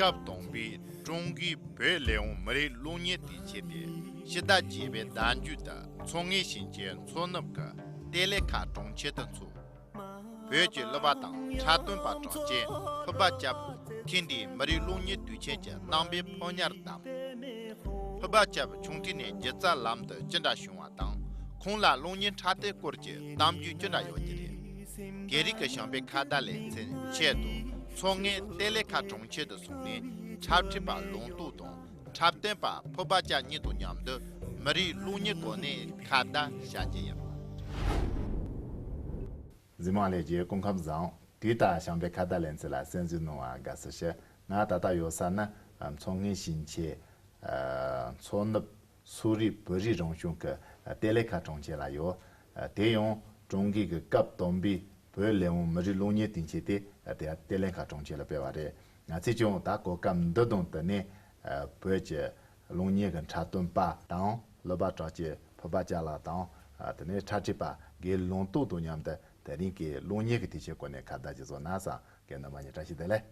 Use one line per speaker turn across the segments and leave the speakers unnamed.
སྐབས་དང་པོའི་ཀྲུང་གོའི་བོད་ལས་དབང་མི་རིགས་ཀློག་གཉེར་དུ་བྱས་ཏེ་ཕྱི་ཟླ་བརྒྱད་པའི་ཟླ་མཇུག་ཏུ་མཚོ་སྔོན་ཞིང་ཆེན་མཚོ་ནུབ་ཀྱི་གཏེར་ལས་ཁ་གྲོང་ཁྱེར་དུ་འཚོགས། བོད་ཀྱི་གླུ་པ་དང་འཁྲབ་སྟོན་པ་གྲགས་ཅན་ཕུར་པ་སྐྱབས། ཐེངས་འདིའི་མི་རིགས་གླུ་གཉེར་དུས་ཆེན་གྱི་གནང་པའི་ཕོ་ཉར་བདམས། ཕུར་པ་སྐྱབས་ཆུང་དུས་ནས་སྒྱུ་རྩལ་ལམ་དུ་ཅི་འདྲ་བྱུང་བ་དང་ཁོང་ལ་གླུ་གཉེར་འཁྲབ་སྟོན་སྐོར་གྱི་གཏམ་རྒྱུད་ཅི་འདྲ་ཡོད་ཀྱི་རེད། རྒྱལ་རིགས་ཀྱི་ཞིང་པའི་ཁ་བརྡ་ལེ་ཚན་ཆེད་དུ་མཚོ་སྔའི་གཏེར་ལས་ཁ་གྲོང་ཁྱེར་དུ་སོང་ནས་འཁྲབ་ཁྲིད་པ་ལུང་རྟོགས་དང། འཁྲབ་སྟོན་པ་ཕུ་པ་ཅག་གཉིས་དང་མཉམ་དུ་མི་རིགས་རླུང་གཉིས་སྒོ་ནས་ཁ་བརྡ་བྱ་རྒྱུ་ཡིན། འཛིན་
མ་ལས་རྒྱའི་སྐུ་ཁམས་བཟང། དུས་རྟག་བྱམས་པའི་ཁ་བརྡ་ལེན་ཚུལ་ལ་གསན་བསུ་གནང་བར་དགའ་བསུ་ཞུ། ང་ད་ལྟ་ཡོད་ས་ནི་མཚོ་སྔོན་ཞིང་ཆེན། མཚོ་ནུབ། སུའུ་རིགས་བོད་རིགས་རང་གཞུང་གི་གཏེར་ལས་ཁ་གྲོང་ཁྱེར་ལ་ཡོད། དེ་ཡང་ཀྲུང་གོའི་སྐབས་དང་པོའི་བོད་ལས་དབང་མི་རིགས་རླུང་གཉིས་བསྟུན་བྱས་ཏེ་གཏེར་ལས་ཁ་གྲོང་ཁྱེར་ལ་སྤེལ་བ་རེད། ང་ཚོས་ཀྱང་ད་གོ་སྐབས་འདི་དང་བསྟུན་ནས་བོད་ཀྱི་གློག་བརྙན་གྱི་འཁྲབ་སྟོན་པ་དང་གློ་བ་གྲགས་ཀྱི་བོད་པ་ཅག་ལ་དང་དེ་ནས་འཁྲབ་ཁྲིད་པ་འགའི་ལུང་རྟོགས་དང་མཉམ་དུ་དེ་རིང་གི་གློག་བརྙན་གྱི་དུས་ཆེན་སྐོར་ནས་ཁ་བརྡ་ཅིག་བཟོ་ན་བཟང་གི་ནི་མ་ཉེས་བཀྲ་ཤིས་བདེ་ལེགས།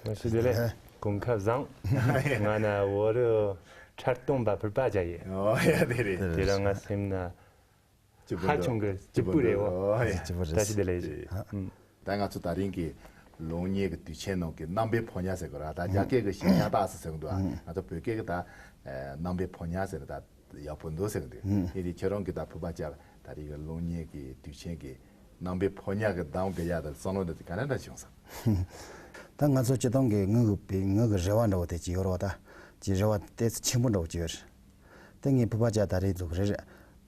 བཀྲ་ཤིས་བདེ་ལེགས་
གོང་ཁ་བཟང། ང་ནི་བོད་རིགས་འཁྲབ་སྟོན་པ་བོད་པ་ཅག་ཡིན། ཨོ་ཡ་དེ་
རེད། དེ་རིང་ང་སེམས་ན་
ཧ་ཆུང་གི་སྐྱིད་པོ་རེད་བོ། སྐྱིད་པོ་རེད། བཀྲ་ཤིས་བདེ་ལེགས་ཞུ། ད་ང་ཚོ་
ད་རིང་གི་ལུང་ཉེ་གི་དུས་ཆེན་ནང་གི་རྣམ་པའི་ཕོ་ཉ་ཟེར་གི་ར་ད་རྒྱ་སྐད་གི་ཞེན་ཆགས་ད་ཟེར་གི་འདུག་ཨ་ང་ཚོ་བོད་སྐད་གི་ད་རྣམ་པའི་ཕོ་ཉ་ཟེར་ན་ད་ཡག་པོ་འདུག་ཟེར་གི་འདུག་དེ་ནི་ཁྱེད་རང་གི་ད་བོད་པ་ཅག་ད་རིང་གི་ལུང་ཉེ་གི་དུས་ཆེན་གི་རྣམ་པའི་ཕོ་ཉ་གི་གདམ་གི་ཡ་ད་བསམ་བློ་ད་ག་ནས་ད་བྱུང་ཟེར། ད་
ང་ཚོ་སྤྱི་སྟོང་གི་ངག་གི་རེ་བ་འདྲ་བོ་དེ་ཅི་ཡོད་རོགས་ད་ཅི་རེ་བ་དེ་ཆེན་པོ་འདྲ་བོ་ཅི་ཡོད། ཏེ། ངའི་བུ་བ་ཅག་ད་རེས་འདུག་རེར།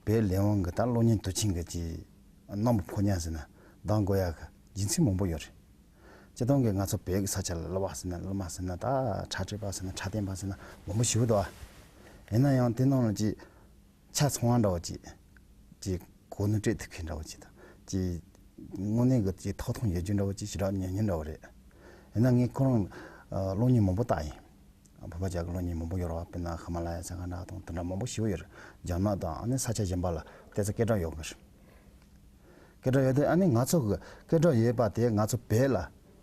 བའི་ལས་དབང་གི་ད་གློ་སྙིང་དུ་ཆིངས་གི། གནམ་བུ་ཕོ་ཉ་ཟེར་ན་འདང་དགོས་ཡག་གི་སྦྱིན་སྲེག་མང་པོ་ཡོད་རེད། ཅི་སྟོང་གི་ང་ཚོ་བོད་ཀྱི་ས་ཆ་ལ་གློ་བ་ཟེར་ན་གློ་མ་ཟེར་ན་ད་ཁྲ་སྤྲོད་པ་ཟེར་ན་ཁྲ་བསྟན་པ་ཟེར་ན་མང་པོ་ཞུ་འདུག་ཨ། ཡིན་ན་ཡང་དེ་རྣམས་ལ་ཅི། ཆ་ཚང་བ་འདྲ་བོ་ཅི། ཅི། གོ་ནོར་སྤྲད་ཐུབ་མཁན་འདྲ་བོ་ཅི་དང། ཅི། དངོས་གནས་ཀྱི་ཅི་ཐོག་ཐང་ཡོད་རྒྱུ་འདྲ་བོ་ཅི་ཞུ་རག་ཉན་རྒྱུ་འདྲ་བོ་རེད། ཡིན་ན་ངས་ཁོ་རང། གློ་སྙིང་མང་པོ་བཏགས་ཡིན། བོད་པ་ཇག་གི་གློ་སྙིང་མང་པོ་ཡོད་རེད་བ་པི་ན་ཧི་མ་ལ་ཡ་ས་ཀ་ན་དང་དེ་འདྲ་མང་པོ་ཞི་བོ་ཡོད་རེད་ཇག་ནག་དང་ཨ་ནི་ས་ཆ་གཞན་པ་ལ་བལྟས་ཚེ་སྐད་གྲགས་ཡོད་དགོས་རེད། སྐད་གྲགས་ཡོད་དེ་ཨ་ནི་ང་ཚོ་གི་སྐད་གྲགས་ཡོད་པ་དེ་ང་ཚོ་བལ་ལ་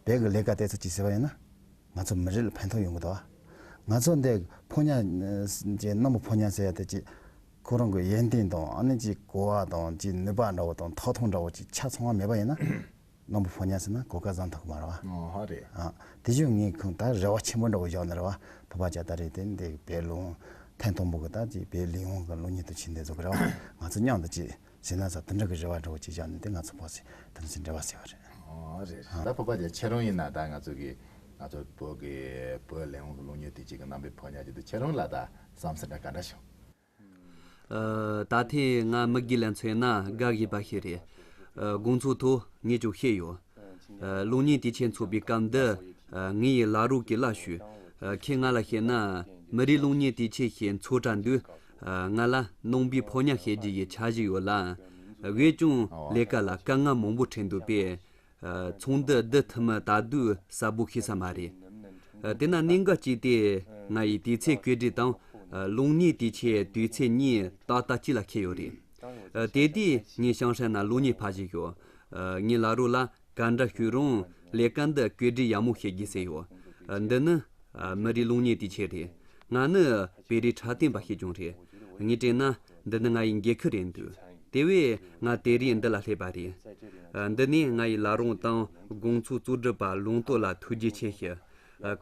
བལ་གི་ལས་ཀ་བལྟས་ཚེ་ཅི་ཟེར་བ་ཡིན་ན། ང་ཚོ་མི་རིགས་ལ་ཕན་ཐོག་ཡོང་གི་འདུག་བ། ང་ཚོ་འདི་ཕོ་ཉ་ཅིག་གནམ་བུ་ཕོ་ཉ་ཟེར་ཡ་དེ་ཅིག་ཁོ་རང་གི་ཡན་ཏན་དང་ཨ་ནི་ཅིག་གོ་བ་དང་ཅིག་ནུས་པ་འདྲ་བོ་དང་ཐོག་ཐོང་འདྲ་བོ་ཅིག་ཆ་ཚང་བ་མེད་པ་ཡིན་ན། སྔོན་པོ་ཕོ་ཉར་ཟེར་ན་གོ་སྐལ་བཟང་ཐོག་གི་མ་རེད་བ། ཨོ་ཧ་རེད། ཨ།
དེ་བཞིན་ངས་
ཁོང་ད་རེ་བ་ཆེན་པོ་འདྲ་བོ་བཞག་ནས་རེ་བ་ཕོ་པ་ཇ་དར་རེད་དེ་འདི་བལ་ལུང་ཐེན་ཐོང་པོ་གི་ད་ཅི་བལ་ལིང་ཧོང་གི་ལུང་ཉིད་དུ་ཕྱིན་འདི་ཚོ་གི་རེ་བ་ང་ཚོ་སྙང་དུ་ཅི་ཟེར་ན་ས་དེ་འདྲ་གི་རེ་བ་འདྲ་བོ་ཅིག་བཞག་ནས་དེ་ང་ཚོ་ཕོག་སྲིད་དེ་ཚོ་ཅི་འདྲ་བ་ཟེར་བ་རེད། ཨོ་ཧ་རེད་རེད་
ད་ཕོ་པ་ཇ་ཁྱེད་རང་ཡིན་ན་ད་ང་ཚོ་གི་ང་ཚོ་བོད་ཀྱི་བལ་ལིང་ཧོང་གི་ལུང་ཉིད་དུ་ཅིག་གི་རྣམ་པའི་ཕོ་ཉར་ཅིག་ཏུ་ཁྱེད་རང་ལ་ད་བསམ་སེ་འདྲ་ག་འདྲ་བྱུང། ད་
ཐེངས་ང་མི་དགེ་ལ་མཚོན་ན་དགའ་བཞིན་པ་ཞིག་རེད། དགོངས་ཚུལ་ཐོག་ངས་ཀྱང་བཤད་ཡོད། གློག་བརྙན་དེ་ཆེད་འཚོགས་པའི་སྐབས་འདི་ངའི་ཡི་ལག་རུ་གི་ལ་ཞུས། ཁྱེད་ང་ལ་བཤད་ན་མི་རིགས་གློག་བརྙན་དེ་ཆེད་ཞེད་འཚོགས་གྲ་འདུག་ང་ལ་ནང་པའི་ཕོ་ཉ་བཤད་རྒྱུ་ཡི་ཆ་ཞིག་ཡོད་ལ། བས་ཀྱང་ལས་ཀ་ལ་དཀའ་ངལ་མང་པོ་འཕྲད་འདུག་པས། ཚོང་འདི་བསྡུ་ཐུབ་མིན་ད་དུས་གསལ་པོ་ཤེས་ས་མ་རེད། དེ་ན་གནད་འགག་གཅིག་དེ་ང་ཡི་དུས་ཚེས་བཀོད་སྒྲིག་དང་རླུང་སྙིགས་དུས་ཆའི་དུས་ཚེས་གཉིས་ཏག་ཏག་གཅིག་ལ་ཁེལ་ཡོད་རེད། དེ་དུས་ངའི་ཤང་ཧྲན་ན་རླུང་སྙིགས་ཕ་བཞི་ཡོད། ངའི་ལག་རོགས་ལ་ག་འདྲ་ཞུས་རུང་ལས་ཀ་འདི་བཀོད་སྒྲིག་ཡག་མོ་བྱེད་ཀྱི་ཟེར་ཡོད། འདི་ནི་མི་རིགས་རླུང་སྙིགས་དུས་ཆས་རེད། ང་ནི་བེ་རི་ཁྲ་སྟེང་པ་ཞིག་ཀྱང་རེད། ངས་དྲན་ན་འདི་ནི་ང་ཡི་འགྱེད་ཁུལ་རེད་འདུག་དེ་བས་ང་དེ་རིང་འདི་ལ་སླེབས་པ་རེད། འདི་ནི་ང་ཡི་བླ་རུང་དང་དགོངས་ཚུལ་གཙོ་སྒྲུབ་པ་ལུང་རྟོགས་ལ་ཐུགས་རྗེ་ཆེ་ཞུ།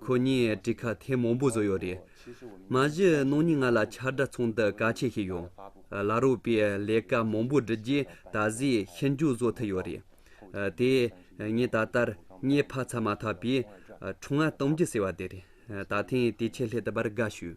ཁོ་གཉིས་བཀྲིས་ཁ་ཐེ་མང་པོ་བཟོ་ཡོད་རེད། མ་གཞི་ནང་མྱི་ང་ལ་ཆ་སྒྲ་ཚོང་དུ་ག་ཆེ་ཞིག་ཡོད། བླ་རུང་པས་ལས་ཀ་མང་པོ་བསྒྲུབས་རྗེས་ད་གཟོད་ཤི་མཇུག་བཟོ་ཐུབ་ཡོད་རེད། དེ་ངས་ད་ལྟར་མྱི་ཕ་ཚ་མ་ཐག་པའི་ཁྲོ་ང་སྟོང་རྒྱུ་ཟེར་བ་དེ་རེད། ད་ཐེངས་དེ་ཆེད་ལྷད་དུ་བར་དགའ་ཞུ།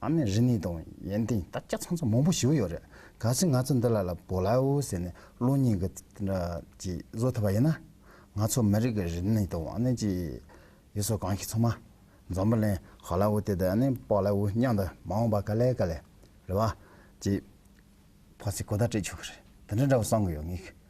ཨ་མས་རི་ནི་དང་ཡན་ཏན་ད་སྐྱ་ཚང་ཚང་མང་པོ་ཞིག་ཡོད་རེད་ག་ཚོད་ང་ཚོ་འདི་ལ་ལ་བོ་ལ་ཨོ་ཟེར་ནས་གློ་སྙིང་གི་དེ་འདྲ་ཅིག་བཟོ་ཐུབ་པ་ཡིན་ན། ང་ཚོ་མི་རིགས་ཀྱི་རི་ནི་དང་ཨ་ནི་ཅིག་ཡུལ་སྲོལ་གང་ཞིག་ཚང་མ་འཛམ་བུ་གླིང་ཧ་ལ་ཨོ་དེ་དང་ཨ་ནི་པོ་ལ་ཨོ་མཉམ་དུ་མ་འོངས་པ་ག་ལེ་ག་ལེ་རེད་བ་ཅིག་ཕོག་ཚེ་གོ་བརྡ་སྤྲད་ཆོག་གི་རེད་དེ་འདྲ་འདྲ་བོ་གསང་གི་ཡོད་ངེས།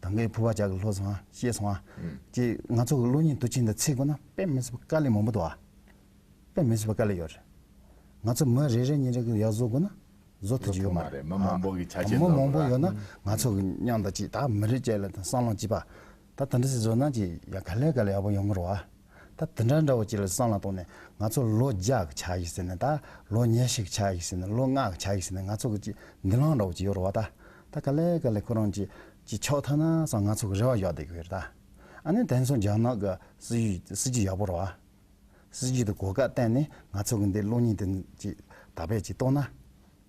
ད་གའི་ཕུར་བ་ལྕགས་ཀྱི་ལྷོ་སོང་ང་ཤེས་སོང་ང། ཅེས་ང་ཚོ་གི་གློ་སྙིང་དུ་བཅིངས་དང་ཚིག་དགོས་ན་དཔེ་མི་སྲིད་པ་དཀའ་ལས་མང་པོ་འདུག་ཨ། དཔེ་མི་སྲིད་པ་དཀའ་ལས་ཡོད་རེད། ང་ཚོ་མི་རེ་རེ་གཉིས་རེ་གི་ཡག་བཟོ་དགོས་ན་བཟོ་ཐུབ་ཀྱི་ཡོད་མ་རེད། མི་མང་པོ་གི་ཆ་རྐྱེན་མི་
མང་པོ་ཡོད་ན་ང་
ཚོ་གི་མཉམ་དང་ཅིག་ད་མི་རེ་བཅས་ལ་ད་སྲང་ལམ་གཅིག་པ། ད་ད་འདྲི་སྲིད་བཟོ་ན་ཅིག་ཡ་ག་ལས་ག་ལས་ཡག་པོ་ཡོང་གི་རོགས་ཨ། ད་དེ་འདྲ་འདྲ་བོ་ཅིག་ལ་སྲང་ལ་དོང་ནས་ང་ཚོ་ལོ་བརྒྱ་གི་ཆ་ཡིག་ཟེར་ནས་ད་ལོ་ཉེར་ཞིག་གི་ཆ་ཡིག་ཟེར་ནས་ལོ་ལྔ་གི་ཆ་ཡིག་ཟེར་ནས་ང་ཚོ་གི་ཅིག་འདི་ལང་འདྲ་བོ་ཅིག་ཡོད་རུ་བ་ད་ད་ག་ལེ་ག་ལེ་ཁོ་རང་ཅིག་ཅིག་ཆོག་ཐ་ན་སང་ང་ཚོ་གི་རེ་བ་གཡོག་བསྡད་གི་ཡོད་རུ་ད་ཨ་ནི་དེ་མཚུངས་རྒྱ་ནག་གི་སྲིད་ཇུས་དེ་སྲིད་ཇུས་ཡག་པོ་རུ་བ་སྲིད་ཇུས་དེ་གོ་སྐབས་བསྟན་ནས་ང་ཚོ་གི་འདི་གློག་བརྙན་དེ་ཅིག་ད་བེད་ཅིག་གཏོང་ན།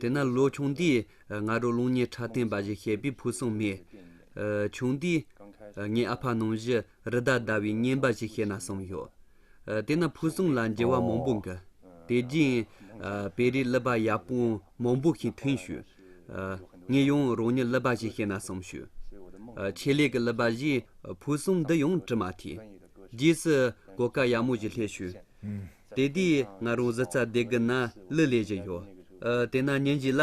དེས་ན་ལོ་ཆུང་དེས་ང་རོ་རླུང་ཉེ་ཕྲ་བསྟན་པ་བཞིན་བཤད་པའི་ཕུགས་བསམ་མེད། ཆུང་དུས་ངའི་ཨ་ཕ་ནང་བཞིན་རི་དྭགས་བདའ་བའི་སྙན་པ་ཞིག་བཤད་ན་བསམ་ཡོད། དེས་ན་ཕུགས་བསམ་ལ་འགྱུར་བ་མང་པོ་འགི། དེ་རྗེས་བེ་རི་གླུ་པ་ཡག་པོ་མང་པོ་ཞིག་ཐོན་ཞུས། ངས་ཡང་རང་ཉིད་གླུ་པ་ཞིག་བཤད་ན་བསམ་ཞུས། ཆེད་ལས་ཀྱི་གླུ་པ་བཞིའི་ཕུགས་བསམ་འདི་ཡང་དྲི་མ་ཐིག། རྗེས་སུ་གོ་སྐབས་ཡག་མོ་ཞིག་སླེབས་ཞུས། དེ་དུས་ང་རང་གཟི་རྩ་སྡེ་དགུ་ན་གླུ་ལས་བཞི་ཡོད། དེ་ན་ཉིན་གཅིག་ལ་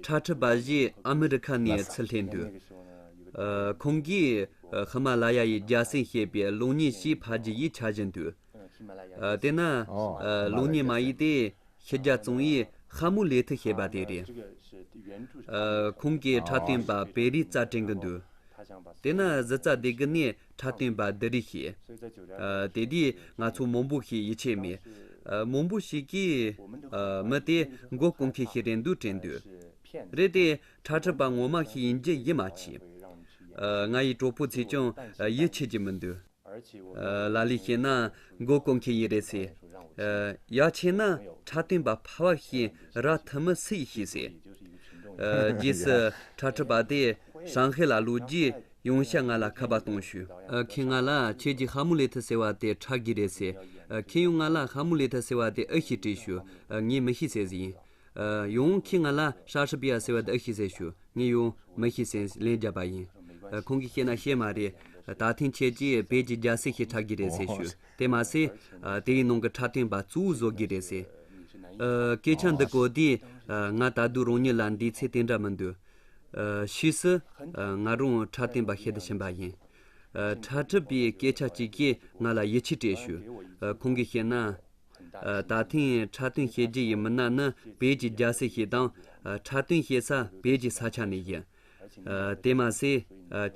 ཁྲ་ཁྲི་པ་ཞིག་ཨ་མི་རི་ཁ་ནས་ཚུར་སླེབས་འདུག་ཁོང་གིས་ཧི་མ་ལ་ཡ་ཡི་རྒྱལ་སྲིད་ཞེས་པའི་གློག་བརྙན་ཞིག་ཕར་རྒྱུ་ཡིས་འཆར་བཞིན་འདུག་དེ་ན་གློག་བརྙན་མ་ཡིག་དེ་ཕྱི་རྒྱལ་རྩོམ་ཡིག་ཧ་མུ་ལེ་ཐི་ཞེས་པ་དེ་རེད། ཁོང་གིས་ཁྲ་སྟོན་པ་བེ་རིའི་རྩར་དྲན་གྱི་འདུག་དེ་ན་གཟི་རྩ་སྡེ་དགུ་ནས་གྲགས་བསྟན་པ་འདི་རིགས་ཤེས། དེ་དུས་ང་ཚོ་མོང་པོ་ཞིག་ཡིད་ཆེས་མེད། མོང་པོ་ཞིག་གིས། མི་དེས་མགོ་སྐོང་མཁན་ཞིག་རེད་འདུག་དྲན་དུས། རེད་དེ། ཁྲག་ཁྲིད་པ་ངོ་མ་ཞིག་ཡིན་རྒྱུ་ཡིད་མ་ཆེས། ང་ཡི་གྲོགས་པོ་ཚོས་ཀྱང་ཡིད་ཆེས་ཀྱི་མི་འདུག། ལ་ལས་བཤད་ན་མགོ་སྐོང་མཁན་ཡིན་རེད་ཟེར། ཡག་ཆེས་ན་གྲགས་བསྟན་པ་ཕ་བ་ཞིག་རག་ཐུབ་མི་སྲིད་ཤེས་ཟེར། རྗེས་སུ་ཁྲག་ཁྲིད་པ་དེས་ཧྲང་ཧའེ་ལ་ལོ་རྒྱུས་ཡོང་ཤག་ང་ལ་ཁ་པར་གཏོང་ཞུ། ཁྱེད་ང་ལ་ཁྱེད་ཀྱི་ཧ་མུ་ལེ་ཐི་ཟེར་བ་དེ་ཁྲག་གི་རེད་ཟེར། ཁྱེད་ཡོང་ང་ལ་ཧ་མུ་ལེ་ཐི་ཟེར་བ་དེ་ཨེ་ཤི་དྲིས་ཞུ། ངས་མི་ཤི་ཟེར་ཡིན། ཡོང་ཁྱེད་ང་ལ་ཧྲ་ཧྲི་པི་ཡ་ཟེར་བ་དེ་ཨེ་ཤི་ཟེར་ཞུ། ངས་ཡོང། མི་ཤི་ཟེར་ལན་བརྒྱབ་པ་ཡིན། ཁོང་གིས་བཤད་ན་བཤད་མ་རེད། ད་ཐེངས་ཁྱེད་ཀྱིས་བོད་ཀྱི་རྒྱལ་སྲས་ཤིག་ཁྲག་གི་རེད་ཟེར་ཞུ། དེ་མ་ཟད། དེའི་ནང་གི་ཁྲག་ཐོན་པ་གཙོ་བོ་བཟོ་གི་རེད་ཟེར། སྐད་ཆ་འདི་གོ་དུས། ང་ད་དུས་རང་ཉིད་ལ་འདིའི་ཚེ་དེ་འདྲ་མི་འདོད། ཕྱིས་སུ། ང་རང་འཕྲལ་བསྟན་པ་ཤེས་དུ་ཕྱིན་པ་ཡིན། འཕྲལ་ཁྲིད་པས་སྐད་ཆ་གཅིག་གིས་ང་ལ་ཡིད་ཆེས་སྤྲད་ཞུ། ཁོང་གིས་བཤད་ན། ད་ཐེངས་འཕྲལ་བསྟན་བྱེད་རྒྱུ་ཡི་མི་སྣ་ནི་བོད་ཀྱི་རྒྱལ་སྲས་ཤིག་དང། འཕྲལ་བསྟན་བྱེད་ས་བོད་ཀྱི་ས་ཆ་ནས་ཡིན། དེ་མ་ཟད།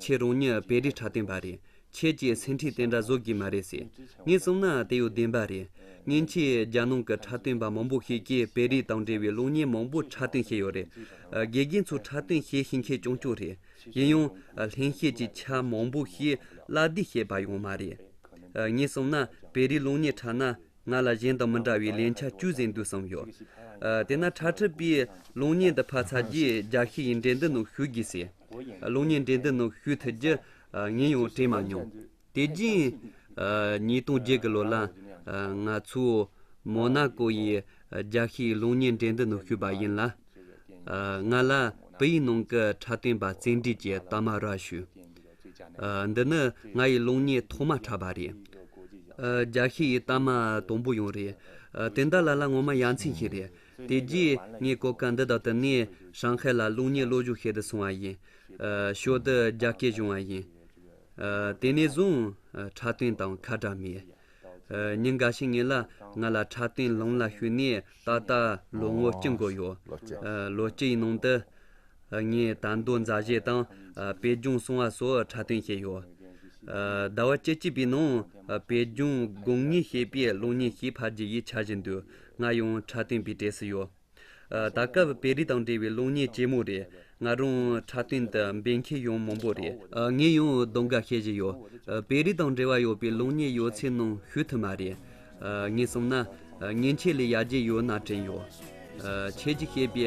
ཁྱེད་རང་ཉིད་བེ་རི་འཕྲལ་བསྟན་པ་རེད། ཁྱེད་ཀྱིས་སེམས་ཁྲིད་དེ་འདྲ་བཟོ་གི་མ་རེད་ཟེར། ངས་གསུངས་ན་དེ་ཡོད་བདེན་པ་རེད། ཉིན་ཞིག་རྒྱ་ནང་གི་འཁྲབ་སྟོན་པ་མང་པོ་ཞིག་གིས་བེ་རི་དང་འབྲེལ་བའི་གློག་བརྙན་མང་པོ་འཁྲབ་སྟོན་བྱས་ཡོད་རེད། དགེ་རྒན་ཚོས་འཁྲབ་སྟོན་བྱེད་བཞིན་ཁྱེད་སྐྱོང་ཆོག་རེད། གཞན་ཡང། ལྷན་སྐྱེས་ཀྱི་ཆ་མང་པོ་ཞིག་བཀླགས་བསྡུས་བྱས་པ་ཡང་མ་རེད། ངས་གསུངས་ན་བེ་རིའི་གློག་བརྙན་འཁྲབ་ན་ང་ལ་གཞན་དང་མི་འདྲ་བའི་ལན་ཆ་བཅུ་ཟིན་འདུག་བསམ་ཡོད། དེས་ན་འཁྲབ་ཁྲིད་པས་གློག་བརྙན་འདི་ཕར་ཚར་རྗེས་རྒྱ་ཤི་ཡིས་འགྲན་བསྡུར་ནང་ཞུགས་དགོས་ཟེར། གློག་བརྙན་འགྲན་བསྡུར་ནང་ཞུགས་ཐུབ་རྒྱུ་ངས་ཡང་དྲན་མ་མྱོང། དེ་རྗེས། ཉིས་སྟོང་བརྒྱད་ཀྱི་ལོ་ལ། ང་ཚོའི། མོ་ན་ཀོ་ཡི། རྒྱ་ཤེས་གློག་བརྙན་འགྲན་བསྡུར་ནང་ཞུགས་པ་ཡིན་ལ། ང་ལ། བོད་ཡིག་ནང་གི་འཁྲབ་སྟོན་པ་རྩེད་འགྲན་གྱི་རྟགས་མ་རག་ཞུས། འདི་ནི་ང་ཡི་གློག་བརྙན་ཐོག་མ་འཁྲབ་པ་རེད། རྒྱ་ཤེས་ཡི་རྟགས་མ་དང་པོ་ཡང་རེད། དེ་འདྲ་ལ་ལ་ངོ་མ་ཡ་མཚན་ཞིག་རེད། དེ་རྗེས་ངས་གོ་སྐབས་འདི་དག་བཏུབ་ནས་ཧྲང་ཧའེ་ལ་རླུང་སྙིགས་གློག་ཞུ་ཤེད་དུ་སོང་བ་ཡིན། ཞོར་དུ་རྒྱ་སྐད་བྱུང་བ་ཡིན། དེ་ནས་བཟུང་འཁྲབ་སྟོན་དང་ཁ་གྲགས་མེད། ཉིན་འགའ་ཞིག་ངེད་ལ་ང་ལ་འཁྲབ་སྟོན་ལུང་ལ་ཞུས་ནས་ད་ལྟ་ལོ་ངོ་གཅིག་འགོར་ཡོད། ལོ་གཅིག་ཡི་ནང་དུ། ངས་དར་མདོ་མཛའ་གཞས་དང་པད་རྒྱུང་སྲུང་བ་སོགས་འཁྲབ་སྟོན་བྱས་ཡོད། ཟླ་བ་བཅུ་གཅིག་པའི་ནང་པད་རྒྱུང་དགུང་གཉིས་ཞེས་པའི་གློག་བརྙན་ཞིག་ཕར་རྒྱུ་ཡིས་འཆར་བཞིན་འདུག་ང་ཡང་གྲྭ་སྟོན་པའི་གྲས་སུ་ཡོད། ད་སྐབས་བེ་རི་དང་འབྲེལ་བའི་གློག་བརྙན་ལྕི་མོ་རེད། ང་རང་གྲྭ་སྟོན་དུ་འབད་མཁན་ཡང་མང་པོ་རེད། ངས་ཡང་གདོང་འགའ་བཤད་བཞིན་ཡོད། བེ་རི་དང་འབྲེལ་བ་ཡོད་པའི་གློག་བརྙན་ཡོད་ཚད་ནང་ཞུགས་ཐུབ་མ་རེད། ངས་གསུངས་ན། མཉེན་ཆས་ལས་ཡར་རྒྱས་ཡོད་ན་དྲན་ཡོད། ཁྱེད་ཀྱིས་བཤད་པའི་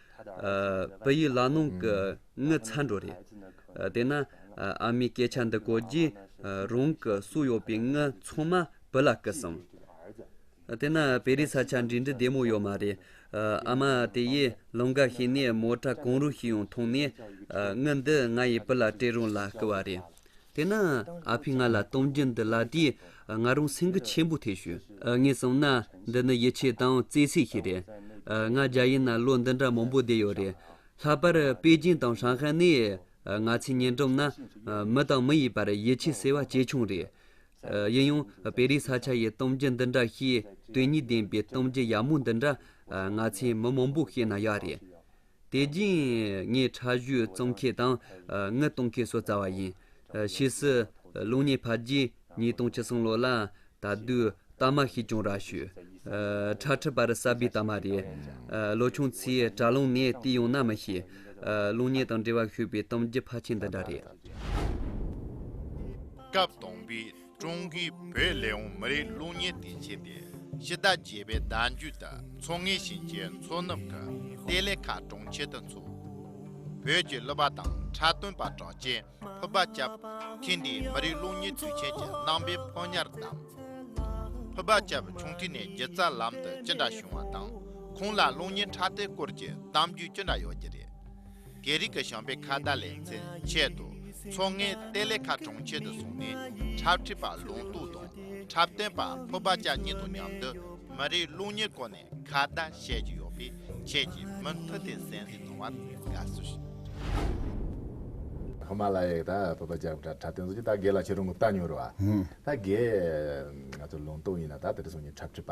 བོད་ཡིག་ལག་ནང་གི་དངུལ་ཚ་འགྲོ་རེད། དེས་ན་ཨ་མའི་སྐད་ཆ་འདི་གོ་རྗེས་རང་གི་སུ་ཡོད་པའི་དངུལ་ཚང་མ་བུ་ལ་བསྐུར་སོང། དེས་ན་བེ་རི་ས་ཆ་འབྲི་འབྲི་བདེ་མོ་ཡོད་མ་རེད། ཨ་མ་དེ་ཡིས་ལུང་འགའ་ཤེས་ནས་མོ་ཁྲ་གང་རུང་ཞིག་ཡང་འཐུང་ནས་དངུལ་འདི་ང་ཡི་བུ་ལ་སྤྲད་རུང་ལ་བསྐུར་བ་རེད། དེས་ན་ཨ་ཕས་ང་ལ་གཏམ་རྒྱུད་འདི་ལ་དུས་ང་རང་སེམས་འགུལ་ཆེན་པོ་ཐེབས་བྱུང། ངས་བསམ་ན་འདི་ནི་ཡིད་ཆེས་དང་བརྩེ་སེམས་ཤིག་རེད། ང་རྒྱ་ཡིན་ན་ལོ་འདི་འདྲ་མང་པོ་བསྡད་ཡོད་རེད། ལྷག་པར་པེ་ཅིན་དང་ཧྲང་ཧའེ་ནི་ང་ཚོའི་ཉེ་འགྲམ་ན། མི་དང་མི་ཡི་བར་ཡིད་ཆེས་ཟེར་བ་ཇེ་ཆུང་རེད། ཡིན་ཡང་པེ་རིའི་ས་ཆ་ཡི་གཏམ་རྒྱུད་འདི་འདྲ་ཞིག་དོན་སྙིང་ལྡན་པའི་གཏམ་རྒྱུད་ཡག་མོ་འདི་འདྲ་ང་ཚོའི་མི་མང་པོས་ཤེས་ན་ཡག་རེད། དེ་རྗེས་ངས་ཁྲ་གཞུའི་གཙང་ཁེ་དང་མངལ་གཏོང་ཁེ་སོགས་བཙལ་བ་ཡིན། ཕྱིས་སུ་གློག་བརྙན་ཕབ་རྗེས་ཉིས་སྟོང་བཅུ་གསུམ་ལོ་ལ་ད་དུས་རྟགས་མ་ཤེས་ཀྱང་ར་ཤོད། ཁྲ་ཁྲིད་པར་གསར་པའི་རྟགས་མ་རེད། ལོ་ཆུང་ཚོས་དྲ་ལམ་ནས་བལྟས་ཡོང་ན་མི་ཤེས། གློག་བརྙན་དང་འབྲེལ་བ་ཤོད་པའི་གཏམ་རྒྱུད་ཕལ་ཆེར་འདི་འདྲ་རེད། སྐབས་
དང་པོའི་ཀྲུང་གོའི་བོད་ལས་འོངས་མི་རིགས་རླུང་གཉེར་དེ་བྱས་ཏེ་ཕྱི་ཟླ་བརྒྱད་པའི་ཟླ་མཇུག་ཏུ་མཚོ་སྔོན་ཞིང་ཆེན་མཚོ་ནུབ་ཀྱི་གཏེར་ལས་ཁ་གྲོང་ཁྱེར་དུ་འཚོགས། བོད་ཀྱི་གླུ་པ་དང་འཁྲབ་སྟོན་པ་གྲགས་ཅན་ཕུར་པ་སྐྱབས་ཐེངས་འདིའི་མི་རིགས་རླུང་གཉེར་དུས་ཆེན་གྱི་རྣམ་པའི་ཕོ་ཉར་བདམས། ཕུར་པ་སྐྱབས་ཆུང་དུས་ནས་སྒྱུ་རྩལ་ལམ་དུ་ཅི་འདྲ་བྱུང་བ་དང་ཁོང་ལ་རླུང་གཉེར་འཁྲབ་སྟོན་སྐོར་གྱི་གཏམ་རྒྱུད་ཅི་འདྲ་ཡོད་ཀྱི་རེད། རྒྱལ་རིགས་ཀྱི་ཞང་པའི་ཁ་བརྡ་ལེ་ཚན་ཆེད་དུ་མཚོ་སྔའི་གཏེར་ལས་ཁ་གྲོང་ཁྱེར་དུ་སོང་ནས་འཁྲབ་ཁྲིད་པ་ལུང་རྟོགས་དང་འཁྲབ་སྟོན་པ་ཕུར་པ་ལྕགས་གཉིས་དང་མཉམ་དུ་མི་རིགས་རླུང་ཉེར་སྐོར་ནས་ཁ་བརྡ་བཤད་ཀྱི་ཡོད་པས་ཁྱེད་ཀྱིས་མུ་མཐུད་དེ་གཟན་གཟིགས་གནང་བར་དགའ་བསུ་ཞུ།
ཧི་མ་ལ་ཡའི་ཕུར་པ་ལྕགས་ཕུར་པ་འཁྲབ་སྟོན་སོགས་ཀྱིས་ད་རྒས་ལ་ཁྱེད་རང་ངུ་བལྟ་མྱོང་རུང། ད་རྒས། ང་ཚོ་ལུང་རྟོགས་གཉིས་ལ་ད་དེ་རུ་སོང་ནས་འཁྲབ་ཁྲིད་པ།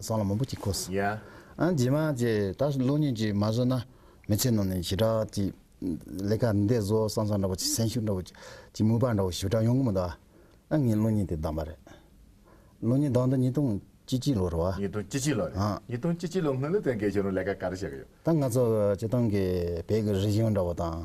སང་ལ་མོན་པོ་གཅིག་ཁོ། རྗེས་
མ་ཀྱེ་
ད་ལོ་གཉིས་ཀྱིས་མ་བཟོས་ན་མི་ཚེ་ནང་ནས་ཞེ་དྲག་ཅིག་ལས་ཀ་འདི་བཟོ་བསམ་བསམ་འདྲ་བོ་ཅིག་སེམས་ཤུགས་འདྲ་བོ་ཅིག་ཅིག་མོས་པ་འདྲ་བོ་ཞེ་དྲག་ཡོང་གི་མི་འདུག་ཨ། ངས་ལོ་གཉིས་དེ་བདམས་པ་རེད། ལོ་གཉིས་བདམས་འདི་ཉིས་སྟོང་བཅུ་གཅིག་ལོ་རེད་བ། ཉིས་སྟོང་བཅུ་གཅིག་ལོ་
རེད། ཉིས་སྟོང་བཅུ་གཅིག་ལོ་སྔོན་ལོ་དེ་འགའི་ཆུ་རུང་ལས་ཀ་ག་རེ་བྱེད་ཀྱི་ཡོད། ད་ང་ཚོ་སྤྱི་བཏང་
གི་བོད་ཀྱི་རིག་གཞུང་འདྲ་བོ་དང།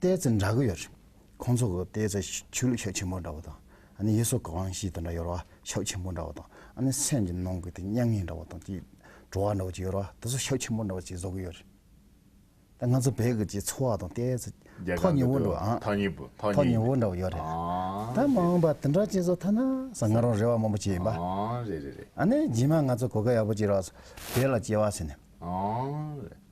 ལྟས་ཚེ་འདྲ་གི་ཡོད་རེད། ཁོང་ཚོ་གི་ལྟས་ཚེ་ཆོས་ལུགས་ཤག་ཆེན་མོ་འདྲ་བོ་དང། ཨ་ནི་ཡེ་སོ་ག་ཝང་ཞིས་དེ་འདྲ་ཡོད་རེད་བ། ཤག་ཆེན་མོ་འདྲ་བོ་དང། ཨ་ནི་སེམས་ཀྱི་ནང་གི་དེ་མྱ་ངན་འདྲ་བོ་དང་ཅིག། བྲོ་བ་འདྲ་བོ་ཅིག་ཡོད་རེད་བ། དེ་ཚོ་ཤག་ཆེན་མོ་འདྲ་བོ་ཅིག་བཟོ་གི་ཡོད་རེད། ད་ང་ཚོ་བོད་ཀྱི་འཚོ་བ་དང་ལྟས་ཚེ། རྒྱ་གར་འདི་དུ་བ། ཐག་ཉེ་བོ། ཐག་ཉེ་བོ་འདྲ་བོ་ཡོད་རེད། ད་མ་འོངས་པ་དེ་འདྲ་ཅིག་བཟོ་ཐ་ན་ཟ་ང་རང་རེ་བ་མང་པོ་བྱེད་ཡིན་པ། རེད་རེད་རེད། ཨ་ནི་རྗེས་མ་ང་ཚོ་གོ་སྐབས་ཡག་པོ་ཅིག་རག་བོད་ལ་སྐྱེ་བ་ཟེར་ནས། རེད།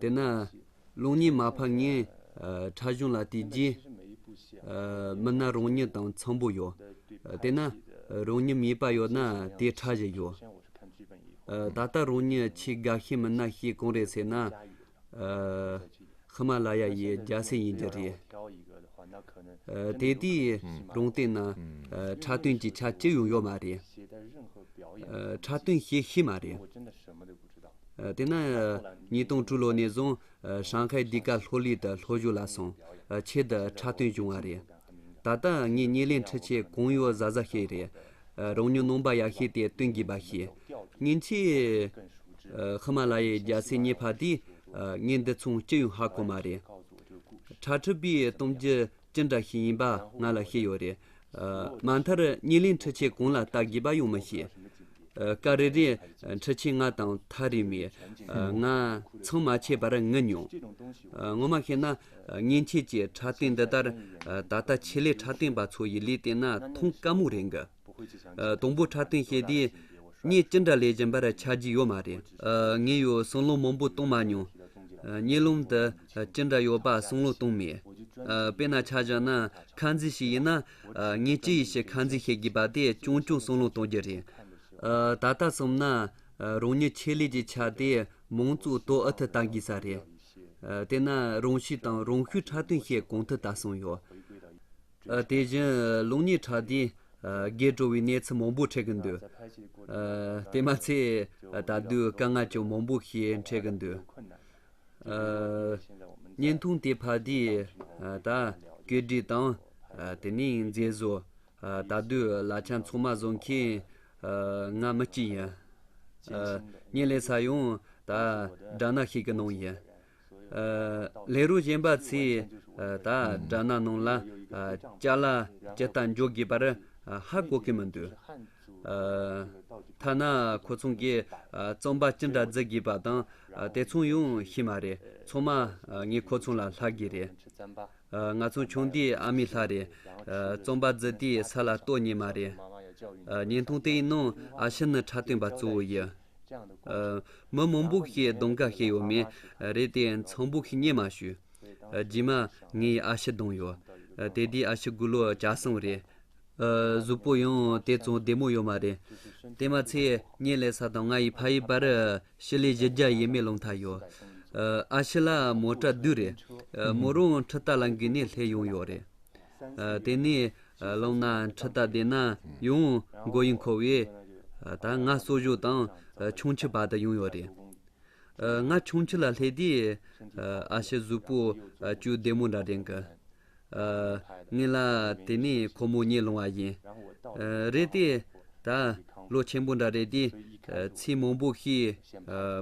དེས་ན་
རླུང་ཉི་མ་ཕར་ངན་ཕྲ་གཞུང་ལ་དེའི་རྗེས་མི་སྣ་རང་ཉིད་དང་འཚམ་པོ་ཡོད། དེས་ན་རང་ཉིད་མིད་པ་ཡོད་ན་དེའི་ཕྲ་གཞི་ཡོད། ད་ལྟ་རང་ཉིད་ཆེས་དགའ་ཤེས་མི་སྣ་ཞིག་གང་རེད་ཟེར་ན། ཧི་མ་ལ་ཡ་ཡི་རྒྱལ་སྲས་ཡིན་རྒྱུ་རེད། དེ་དུས་རང་སྟེང་ན་ཕྲ་སྟོན་གྱི་ཆ་ཅི་ཡང་ཡོད་མ་རེད། ཕྲ་སྟོན་བྱེད་ཤེས་མ་རེད། དེ་ནས་ཉིས་སྟོང་དྲུག་ལོ་ནས་བཟུང་ཧྲང་ཧའེ་འདི་ག་ལྷོ་ལི་དང་ལྷོ་བཞུགས་ལ་སོང་ཆེད་དུ་འཁྲབ་སྟོན་བྱུང་བ་རེད། ད་ལྟ་ངས་བརྙན་ལེན་འཁྲི་ཆས་གང་ཡོད་གཟའ་གཟའ་ཤེས་རེད། རང་ཉོ་ནོམ་པ་ཡག་ཤེས་དེ་སྟོན་དགོས་པ་ཤེས། ཉིན་ཆད་ཧི་མ་ལ་ཡའི་རྒྱ་སེ་རྙེད་བར་དུས་བརྙན་འདི་མཚུངས་སྐྱི་ཡོང་ཧ་གོ་མ་རེད། ཁྲ་ཁྲི་པའི་གཏམ་རྒྱུད་ཅི་འདྲ་ཞིག་ཡིན་པ་ང་ལ་ཤེས་ཡོད་རེད། མ་མཐར་ཉེ་ལེ་འཕྲུལ་ཆས་གང་ལ་བལྟ་དགོས་པ་ཡང་མི་ཤེས། སྐབས་རེ་རེར་འཕྲུལ་ཆས་ལྔ་དང་ཐག་རིང་བས་ང་ཚང་མ་ཆད་པར་ངུས་མྱོང། ངོ་མ་བཤད་ན་མཉེན་ཆས་ཀྱི་ཕྲ་སྟེང་འདི་ལྟར་ད་ལྟ་ཆེད་ལས་ཕྲ་སྟེང་པ་ཚོ་ཡི་ལས་བལྟས་ན་ཐང་དཀའ་མོ་རེད་འགི། དང་པོ་འཁྲབ་སྟོན་བྱས་དུས་ངས་ཅི་འདྲ་ལས་གཞན་པར་ཆ་རྒྱུས་ཡོད་མ་རེད། ངས་ཡོད་གསུང་ལུང་མང་པོ་གཏོང་མ་མྱོང། གཉིད་ལམ་དུ་ཅི་འདྲ་ཡོད་པ་གསུང་ལུང་གཏོང་མེད། དཔེར་ན་ཆ་བཞག་ན་ཁ་འཛིན་ཞིག་ཡིན་ན། ངས་ཅི་ཡི་ཕྱིར་ཁ་འཛིན་བྱེད་དགོས་པ་དེ་ཆུང་ཆུང་གསུང་ལུང་གཏོང་རྒྱུ་རེད། ད་ལྟ་སོམས་ན་རང་ཉིད་ཆེད་ལས་ཀྱི་ཆ་དེ་མང་གཙོའི་ཏོག་ཨུ་ཐུག་ལྟ་དགོས་ས་རེད། དེས་ན་རང་ཤི་དང་རང་ཤུལ་འཁྲབ་སྟོན་བྱེད་གང་ཐུབ་ལྟ་སོང་ཡོད། དེ་བཞིན་ལུགས་གཉིས་ཕྲ་དེས་རྒྱས་སྤྲོ་བའི་གནས་ཚུལ་མང་པོ་འཕྲད་ཀྱི་འདུག་དེ་མ་ཚད་ད་དུས་དཀའ་ངལ་ཀྱང་མང་པོ་ཞིག་འཕྲད་ཀྱི་འདུག་བརྙན་ཐུང་དེ་ཕ་དེས་ད་གོད་སྒྲིག་དང་དེ་ནས་མཛེས་བཟོ། ད་དུས་ལ་ཆ་མཚུངས་མ་བཟོ་མཁན་ང་མི་གཅིག་ཡིན། བརྙན་ལས་ས་ཡང་ད་སྦྲ་ནག་ཞིག་གི་ནང་ཡིན། ལས་རུང་གཞན་པ་ཚོས་ད་དྲ་ནག་ནང་ལ་བཅའ་ལ་ཇི་ལྟར་འཇོག་དགོས་པར་ཧ་གོ་གི་མི་འདུག་ཐ་ན་ཁོ་ཚང་གིས་རྩོམ་པ་ཅི་འདྲ་བརྫི་དགོས་པ་དང་དེ་མཚུངས་ཡང་ཤེས་མ་རེད་ཚང་མ་ངས་ཁོ་ཚང་ལ་ལྷག་གི་རེད། ང་ཚང་ཆུང་དུས་ཨ་མའི་ལྷ་རེད་རྩོམ་པ་བརྫི་དུས་ས་ལ་ལྟོས་ཉེས་མ་རེད། བརྙན་ཐུང་དེའི་ནང་ཨ་ཕྱི་ནི་ཁྲ་སྟོན་པ་གཙོ་བོ་ཡི། མི་མང་པོ་ཞིག་གིས་གདོང་དཀར་བྱས་ཡོད་མེད་རེད་དེ་ཚངས་བུག་གིས་རྙེད་མ་ཞུས། རྗེས་མ། ངའི་ཨ་ཕྱི་གདོང་ཡོད། དེ་དུས་ཨ་ཕྱི་དགུ་ལོ་གྱ་གསུམ་རེད། གཟུགས་པོ་ཡང་དེ་ཙམ་བདེ་མོ་ཡོད་མ་རེད། དེ་མ་ཚད་གཉེན་ལས་ས་དང་ང་ཡི་ཕ་ཡི་བར་ཕྱི་ལས་བཞི་བརྒྱ་ཡས་མས་སློང་ཐག་ཡོད། ཨ་ཕྱི་ལ་མོ་གྲྭ་བདུན་རེད། མོ་རང་ཁྲི་རྟ་ལ་འགུལ་ནས་སླེབས་ཡོང་ཡོད་རེད། དེ་ནས་བླངས་ན་ཁྲི་རྟ་བདེ་ན་ཡང་མགོ་ཡི་འཁོར་བས་ད་ང་གསོ་བཞུགས་དང་ཆུང་ཁྱི་བར་དུ་ཡོང་ཡོད་རེད། ང་ཆུང་ཁྱི་ལ་སླེབས་དུས་ཨ་ཕྱི་གཟུགས་པོ་བཅུ་བདེ་མོ་འདྲ་དྲན་གི། ངེད་ལ་དེ་ནས་ཁོ་མོ་རྙེད་ལོང་བ་ཡིན། རེད་དེ། ད་ལོ་ཆེན་པོ་འདྲ་རེད་དེ། ཚིག་མང་པོ་ཤེས།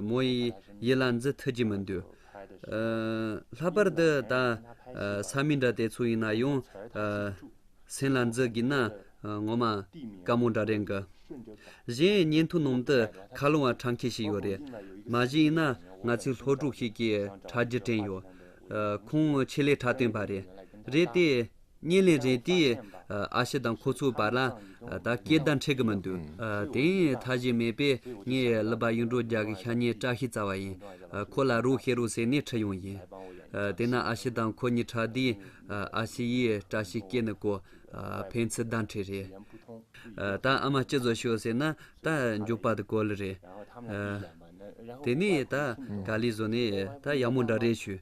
མོ་ཡི་ཡིད་ལ་འཛི་ཐུབ་ཀྱི་མི་འདུག། ལྷག་པར་དུ་ད་ས་མི་འདྲ་དེ་ཚོ་ཡིན་ན་ཡང། སེམས་ལ་འཛུལ་གྱིན་ན་ངོ་མ་དཀའ་མོ་འདྲ་རེད་འགི། གཞན་བརྙན་ཐུང་ནང་དུ་ཁ་སློང་བ་གྲངས་ཁེ་ཞིག་ཡོད་རེད། མ་གཞི་ཡིན་ན་ང་ཚོའི་ལྷོ་ཕྲུག་ཞིག་གིས་དྲ་རྒྱ་དྲན་ཡོད། ཁོང་ཆེད་ལས་དྲ་སྟོན་པ་རེད། རེད་དེ། བརྙན་ལེན་རེད་དེ། ཨ་ཕྱི་དང་ཁོ་ཚོའི་བར་ལ་ད་སྐད་བརྡ་འཕྲད་གི་མི་འདུག་དེ་ཡིན་མཐའ་གཞན་མེད་པས་ངས་ལི་པ་གཡུ་འབྲུག་རྒྱ་གི་ཤ་ཉེ་བཀྲ་ཤིས་རྩ་བ་ཡིན། ཁོ་ལ་རུ་ཤེ་རུ་ཟེར་ནས་ཁྲིད་ཡོང་ཡིན། དེ་ན་ཨ་ཕྱི་དང་ཁོ་གཉིས་ཕྲད་དུས། ཨ་ཕྱི་ཡིས་བཀྲ་ཤིས་སྐྱེས་ནི་གོ། ཕན་ཚུན་བརྡ་འཕྲད་རེད། ད་ཨ་མ་སྐྱིད་བཟོ་ཤོག་ཟེར་ན་ད་མགྱོགས་པར་དུ་གོ་ལི་རེད། དེ་ནས་ད་ག་ལི་བཟོ་ནས་ད་ཡག་མོ་འདྲ་རེད་ཞུས།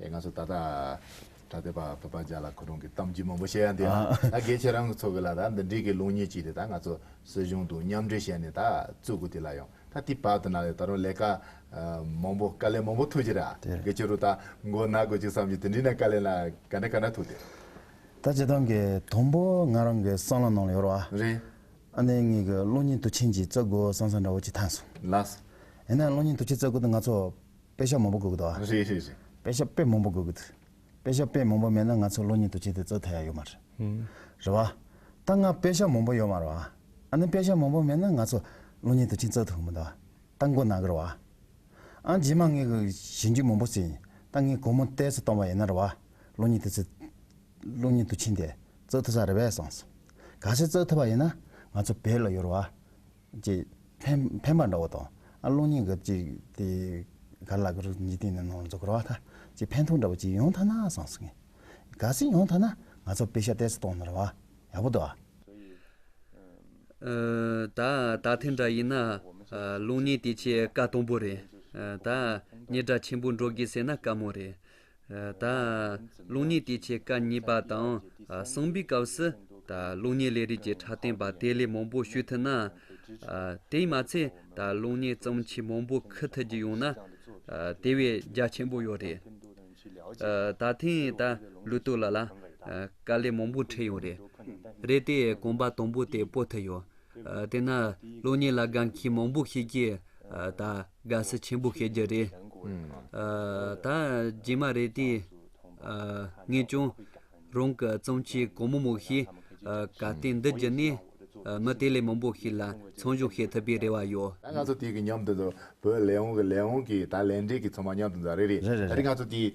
ཡ་ང་ཚོ་ད་ལྟ་གྲྭ་སྡེ་པ་བོད་པ་འཇག་ལ་ཁོ་རང་གི་གཏམ་རྒྱུད་མང་པོ་བཤད་ཡ་འདི་ལ་ད་དགེ་ཆེ་རང་གི་ཚོ་གི་ལ་ད་འདི་འགྲིག་གི་ལུགས་གཉིས་ཅིག་དེ་ད་ང་ཚོ་སྲིད་གཞུང་དུ་མཉམ་འབྲེལ་བྱས་ནས་ད་བཙུག་གི་དེ་ལ་ཡང་ད་དེ་བར་དུ་ན་ལས་ད་རུང་ལས་ཀ་མང་པོ་དཀའ་ལས་མང་པོ་ཐུག་ཅིག་ར་དགེ་ཆེ་རུ་ད་མགོ་ན་དགོས་ཅིག་བསམ་གྱི་དེ་འདྲི་ན་དཀའ་ལས་ན་ག་འདྲ་ག་འདྲ་ཐུག་དེ། ད་བྱེད་སྟངས་ཀྱི་
དང་པོ་ང་རང་གི་སང་ལ་ནང་ལ་ཡོ་རོ་ཨ། རེད། ཨ་
ནེ་ངེད་གི་
གློ་སྙིང་དུ་ཆིན་གྱི་རྩ་དགུ་སང་སང་འདྲ་བོ་ཅིག་ཐང་སོང། ལགས།
ཡིན་ན་གློ་སྙིང་དུ་
ཆིན་རྩ་དགུ་དེ་ང་ཚོ། དཔེ་ཆ་མང་པོ་དགོས་གི་འདུག་ཨ། རེད་རེད་རེད། དཔེ་ཆ་
དཔེ་མང་པོ་
དགོས་གི་འདུག། དཔེ་ཆ་དཔེ་མང་པོ་མེད་ན་ང་ཚོ་གློག་བརྙན་དུ་བྱེད་དེ་བཙོ་ཐལ་ཡག་ཡོད་མ་རེད། རེད་བ། ད་ང་དཔེ་ཆ་མང་པོ་ཡོད་མ་རེད་བ། ཨ་ནི་དཔེ་ཆ་མང་པོ་མེད་ན་ང་ཚོ་གློག་བརྙན་དུ་བྱིན་བཙོ་ཐུབ་གི་མི་འདུག་ཨ། ད་མགོ་ན་གི་རེད་བ། ཨ། རྗེས་མ་ངས་གི་བྱིན་རྒྱུ་མང་པོ་བྱས་ཡིན། ད་ངས་གོར་མོ་གཏད་སུ་གཏོང་བ་ཡིན་ན་རེད་བ། གློག་བརྙན་དུ་བྱེད། གློག་བརྙན་དུ་བྱིན་དེ་བཙོ་ཐུབ་ས་རེད་བས་སོང་སོང། ག་ཚོད་བཙོ་ཐུབ་པ་ཡིན་ན་ང་ཚོ་བོད་ལ་ཡོད་རེད་བ། ཅེས་འཕན་པ་འདྲ་བོ་དང། གློག་བརྙན་གབ་ཅིག་དེ་གར་ལ་གུ་རུ་ཉིད་དེ་ནི་ནོར་འཛོལ་གོ་ར་བ་ཐ་ཅེས་འཕན་ཐུག་འདྲ་བོ་ཅིག་ཡོང་ཐ་ན་བཟང་ཟེར་ངེས། ག་ཟེ་ཡོང་ཐ་ན་ང་ཚོ་དཔེ་ཤ་གཏད་སུ་གཏོང་ནོར་བ་ཡག་པོ་འདུག་ཨ།
ད་ད་ཐེངས་འདྲ་ཡིན་ན་གློག་བརྙན་དེ་ཆེས་དཀའ་དང་པོ་རེད། ད་ཉེ་དྲ་ཆེན་པོ་འགྲོ་དགོས་ཟེར་ན་དཀའ་མོ་རེད། ད་རླུང་ལྔའི་དུས་ཆད་སྐབས་གཉིས་པ་དང་གསང་བའི་སྐབས་སུ། ད་རླུང་ལྔའི་ལས་རིགས་ཀྱི་ཕྲ་རྟེན་པ་དེ་ལས་མང་པོ་ཞུ་ཐུབ་ན། དེས་མ་ཚད་ད་རླུང་ལྔའི་བརྩམས་ཆོས་མང་པོ་འཁུར་ཐུབ་རྒྱུ་ཡོང་ན། དེ་བས་རྒྱ་ཆེན་པོ་ཡོད་རེད། ད་ཐེངས་ད་ལུས་སྟོད་ལ་ལ། དཀའ་ལས་མང་པོ་འཕྲད་ཡོང་རེད། རེད་དེ་གོམ་པ་དང་པོ་དེ་སྤོ་ཐུབ་ཡོད། དེས་ན་རླུང་ལྔའི་ལ་དགའ་མཁན་མང་པོ་ཤེས་ཀྱི། ད། དགའ་ས་ཆེན་པོ་ཤེས་རྒྱུ་རེད། ད་རྗེས་མ་རེད་དེ། ངས་ཀྱང། རང་གི་རྩོམ་ཆེན་གོང་མོ་མོ་ཞེས། ག་སྟེ་འདི་བགྱིས་ནས། མི་དེ་ལས་མང་པོ་ཞིག་ལ་མཚང་གཞུག་བྱེད་ཐུབ་པའི་རེ་བ་ཡོད། ད་ང་ཚོ་དེའི་གི་མཉམ་
དུ་འདུག་བོད་ལས་དབང་གི་ལས་དབང་གི་ད་ལས་འབྲས་ཀྱི་ཚང་མ་མཉམ་དུ་འཛའ་རེ་རེད། ད་རེ་ང་ཚོ་དེའི།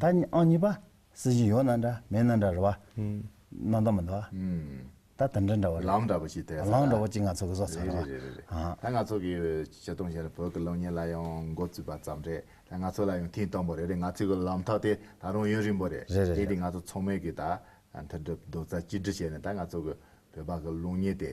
ད་ནི་ཨང་གཉིས་པ། སྲིད་ཞི་ཡོ་ན་འདྲ་མེ་ན་འདྲ་རེད་བ། ནང་ད་མི་འདྲ་བ། ད་དེ་འདྲ་འདྲ་བ་རེད། ལམ་འདྲ་པོ་ཞིག་ཐད་ས་རེད། ལམ་འདྲ་
པོ་ཅིག་ང་ཚོ་གི་བཟོ་
ཚར་རེད་རེད་རེད་རེད། ད་
ང་ཚོ་གི་བྱེད་སྟངས་གཞན་ལ་བོད་ཀྱི་གློག་བརྙན་ལ་ཡང་འགོ་བཙུགས་པ་ཙམ་རེད། ད་ང་ཚོ་ལ་ཡང་ཐེངས་དང་པོ་རེད་རེད་ང་ཚོའི་གི་ལམ་ཐག་དེ་ད་རུང་ཡུན་རིང་པོ་རེད། རེད་རེད་རེད། དེ་དུས་ང་ཚོ་ཚང་མས་གི་ད་མཐུན་སྒྲིལ་རྡོག་རྩ་གཅིག་སྒྲིལ་བྱས་ནས་ད་ང་ཚོ་གི་བོད་པ་གི་གློག་བརྙན་དེ